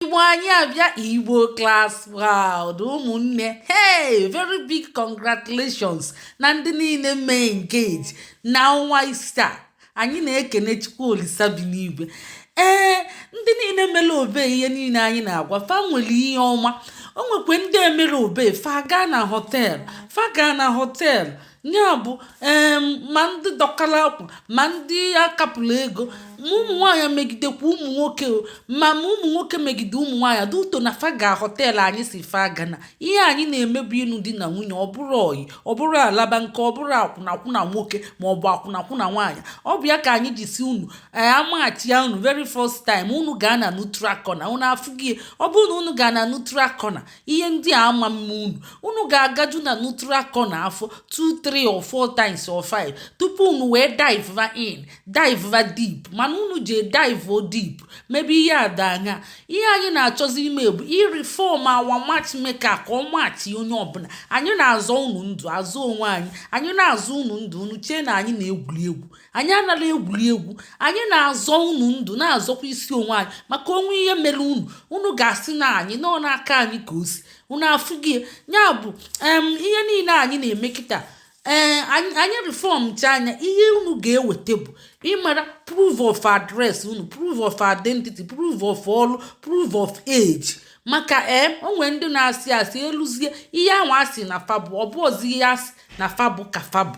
igbo anyị abịa igbo class proud ụmụnne hey very big congratulations na ndị niile mee engage na ọnwa ista anyị na-ekene chukwu olisa bi n'igwe ee ndị niile mere obey ihe niile anyị na-agwa fa nwere ihe ọma o nwekwe ndị emerọ obey fa gaa na họteelụ fa gaa na họteelụ ya bụ ee ma ndị dọkara akwa ma ndị akapụrụ ego ma ụmụ nwaanyị megidekwa ụmụ nwoke o ma ụmụ nwoke megide ụmụ nwaanyị due to na fa gaa họteelụ anyị sị fa agana ihe anyị na-eme bụ ịnụ di na nwunye ọ bụrọ ọyị ọ bụrọ alaba nke ọ bụrọ akwụnakwụna nwoke ma ọ bụ akwụnakwụna nwaanyị ọ bụ ya ka anyị ji si unu ee a machịa unu very first time unu gaa na neutral corner unu afụgo ya ọ bụrụ na unu gaa na neutral corner ihe ndị a ama mme unu unu ga-agaju na neutral corner for 2 3 or 4 times or 5 tupu unu wee dive va in dive va deep mana unu ji dive o deep maybe ihe ada ana ihe anyị na-achọzi ime bụ irifọm our matchmaker ka ọ machi onye ọbụla anyị na-azọ unu ndụ azọ onwe anyị anyị na-azọ unu ndụ unu chee na anyị na-egwuri egwu anyị anarọ egwuri egwu anyị na-azọ unu ndụ na-azọkwa isi onwe anyị maka o nwee ihe mere unu unu ga-asị na anyị na ọ n'aka anyị ka o si unu afụgo ya bụ ihe niile anyị na-eme kịta ee eh, anyị rifọmchaa ya ihe unu ga-eweta bụ ị mara proof of address unu proof of identity proof of ọrụ proof of age maka ee eh, o nwe ndị na-asị asị e luzie ihe ahụ a sị na fa bụ ọ bụrọzi ihe a sị na fa bụ ka fa bụ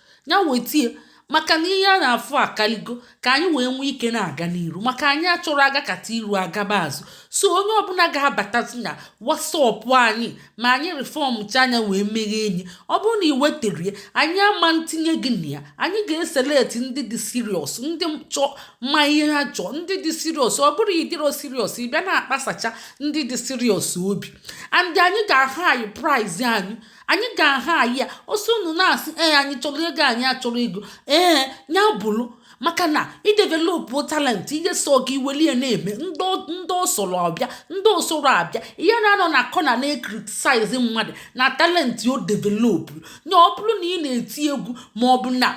ya wetie maka na ihe a na-afụ akaligo ka anyị wee nwee ike na-aga n'iru maka anyị achọrọ a gakata iru a gaba azụ so onye ọbụla ga-abatazi na wasọpụ anyị ma anyị rifọmchaa ya wee meghee ya ọ bụrụ na i weterọ ya anyị ama ntinye gị na ya anyị ga-eseleti ndị dị siriọs ndị chọọ ma ihe ha chọọ ndị dị siriọs ọ bụrụ ị dịrọ siriọs ị bịa na-akpasacha ndị dị siriọs obi and anyị ga-ahaị price anyị anyị ga-ahaị ya so unu na-asị ee anyị chọrọ ego anyị achọrọ ego ee ya bụrụ maka na i developụ talenti ihe sọọ gị welie na-eme ndị ọ sọrọ abịa ndị ọ sọrọ abịa ị ya na-anọ na kọna na-ekritisaizi mmadụ na talenti o developụ ya ọ bụrụ na ị na-eti egwu ma ọ bụ na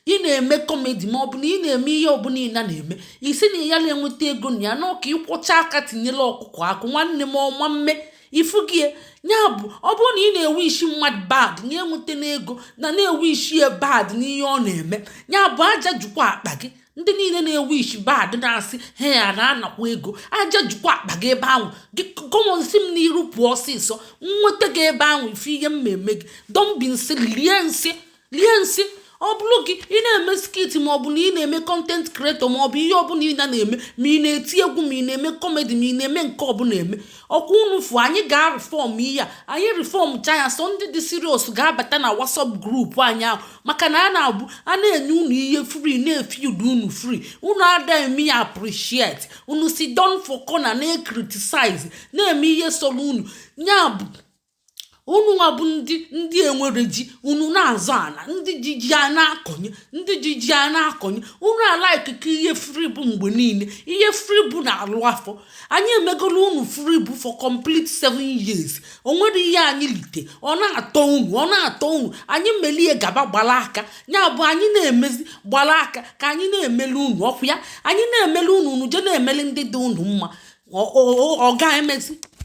ị na-eme kọmedi ma ọ bụ na ị na-eme ihe ọbụla ị na-eme i si na ya na-enweta ego na ya na ọ ka ịkwọcha aka tielụ ọkụkọ akụ nwanne m ọ ma mme ị fụgo ya ya bụ ọ bụrụ na ị na-ewishi mmadụ bad ya enwetana ego na na-ewishi ya bad n'ihe ọ na-eme ya bụ aja jukwa akpa gị ndị niile na-ewishi bad na-asị hee a na-anakwa ego aja jukwa akpa gị ebe ahụ gị come on si m n'iru pụọ ọsịsọ nweta gị ebe ahụ ị fụ ihe m me eme gị dọmbi nsị lie nsị lie nsị ọ bụrụ gị ị na-eme skit ma ọ bụ na ị na-eme content creator ma ọ bụ ihe ọbụla ị na-eme ma ị na-eti egwu ma ị na-eme comedy ma ị na-eme nke ọbụla eme ọkwa unu fụ anyị ga-reform ihe a anyị reform chaa ya sọ ndị dị serious ga-abata na WhatsApp group anyị ahụ maka na a na-abụ a na-enye unu ihe free na-efeed unu free unu ada eme ya appreciate unu sidon for corner na-ecriticize na-eme ihe sọrọ unu ya bụ unu nwa bụ ndị ndị enwere ji unu na-azọ ana ndị ji ji a na-akọnye ndị ji ji a na-akọnye unu ala ikike ihe free bụ mgbe niile ihe free bụ na-alụ afọ anyị emegolo unu free bụ for complete seven years o nwere ihe anyị lite ọ na-atọ unu ọ na-atọ unu anyị melie gaba gbara aka ya bụ anyị na-emezi gbara aka ka anyị na-emeli unu ọkwa ya anyị na-emeli unu unu je na-emeli ndị dị unu mma ọ ga-emezi